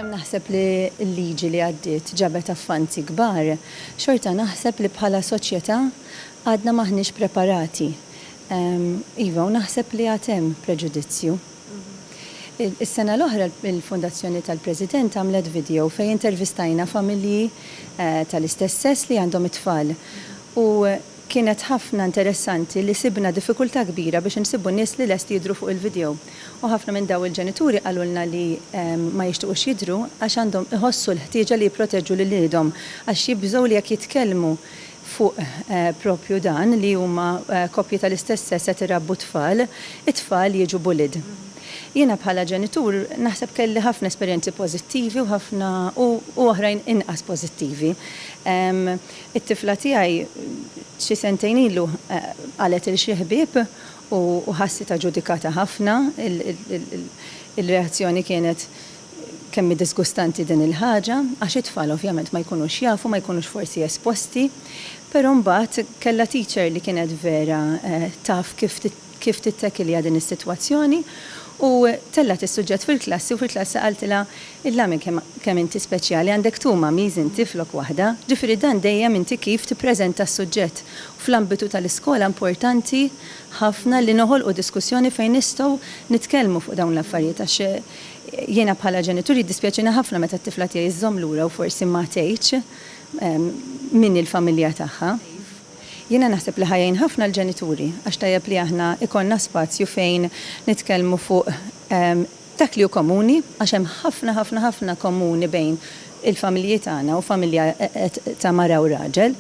Għalkemm naħseb li l-liġi li għaddiet ġabet avvanzi kbar, xorta naħseb li bħala soċjetà għadna m'aħniex preparati. Iva, u naħseb li għad hemm preġudizzju. Is-sena l-oħra l-Fondazzjoni tal-President għamlet video fejn intervistajna familji tal-istess sess li għandhom it-tfal. U kienet ħafna interessanti li sibna diffikultà kbira biex insibbu nies li lesti jidhru fuq il-video. U ħafna minn daw il-ġenituri qalulna li ma jixtiqux jidhru għax għandhom iħossu l-ħtieġa li jipproteġu lil iliedhom għax jibżgħu li jekk jitkellmu fuq propju dan li huma koppji tal-istess sess qed irabbu t-tfal, it-tfal jiġu bullied. Jiena bħala ġenitur naħseb kelli ħafna esperjenzi pożittivi u ħafna u u oħrajn inqas pożittivi. It-tifla tiegħi xi sentejn ilu qalet 'il xi ħbieb U ħassitha ġudikata ħafna, il-reazzjoni kienet kemm hi diżgustanti din il-ħaġa, għax it-tfal ovvjament ma jkunux jafu, ma jkunux forsi esposti. Però mbagħad kellha teacher li kienet vera taf kif tittekilja din is-sitwazzjoni u tellgħet is-suġġett fil-klassi u fil-klassi qaltilha, Illa minn kemm inti speċjali, għandek two mummies inti flok waħda, ġifieri dan dejjem inti kif tippreżenta s-suġġett Fl-ambitu tal-iskola importanti ħafna li noħolqu diskussjoni fejn nistgħu nitkellmu fuq dawn l-affarijiet għax jiena bħala ġenitur jiddispjaċini ħafna meta t-tifla tiegħi żżomm lura u forsi ma tgħidx min hi l-familja tagħha. Jiena naħseb li ħa jgħin ħafna l-ġenituri għax tajjeb li aħna jkollna spazju fejn nitkellmu fuq Dak li hu komuni, għax hemm ħafna ħafna ħafna komuni bejn il-familji tagħna u familja ta' mara u raġel,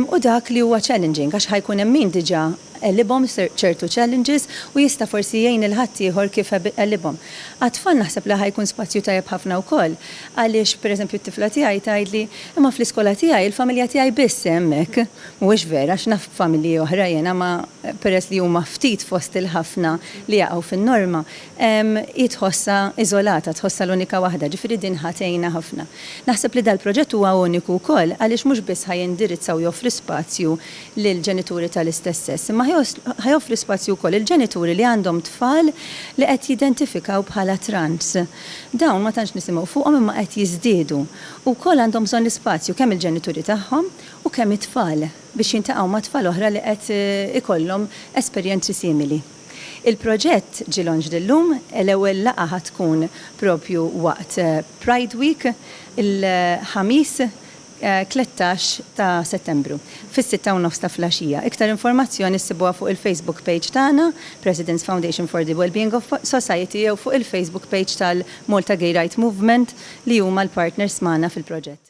u dak li huwa challenging, għax ħa jkun hemm min diġà għelibhom ċertu challenges u jista' forsi jgħin lil ħaddieħor kif għelibhom. Għat-tfal naħseb li ħa jkun spazju tajjeb ħafna wkoll għaliex pereżempju t-tifla tiegħi tgħidli, imma fl-iskola tiegħi il-familja tiegħi biss hemm hekk. Mhuwiex vera għax naf familji oħra jiena ma peress li huma ftit fost il-ħafna li jaqgħu fin-norma, Hi tħossha iżolata, tħossha l-unika waħda, ġifieri din ħa tgħinha ħafna. Naħseb li dal-proġett huwa uniku wkoll għaliex mhux biss ħa jindirizza u joffri spazju lil ġenituri tal-istess sess, imma ħa joffri spazju wkoll lil ġenituri li għandhom tfal li qed jidentifikaw bħala trans. Dawn ma tantx nisimgħu fuqhom imma qed jiżdiedu u wkoll għandhom bżonn l-ispazju kemm il-ġenituri tagħhom u kemm it-tfal biex jiltaqgħu ma' tfal oħra li qed ikollhom esperjenzi simili. Il-proġett ġie launched illum, l-ewwel laqgħa ħa tkun propju waqt Pride Week, il-Ħamis 13 ta' Settembru, fis-sitta u nofs ta' flgħaxija. Iktar informazzjoni ssibuha fuq il-Facebook page tagħna, President's Foundation for the Wellbeing of Society jew fuq il-Facebook page tal-Malta Gay Rights Movement li huma l-partners magħna fil-proġett.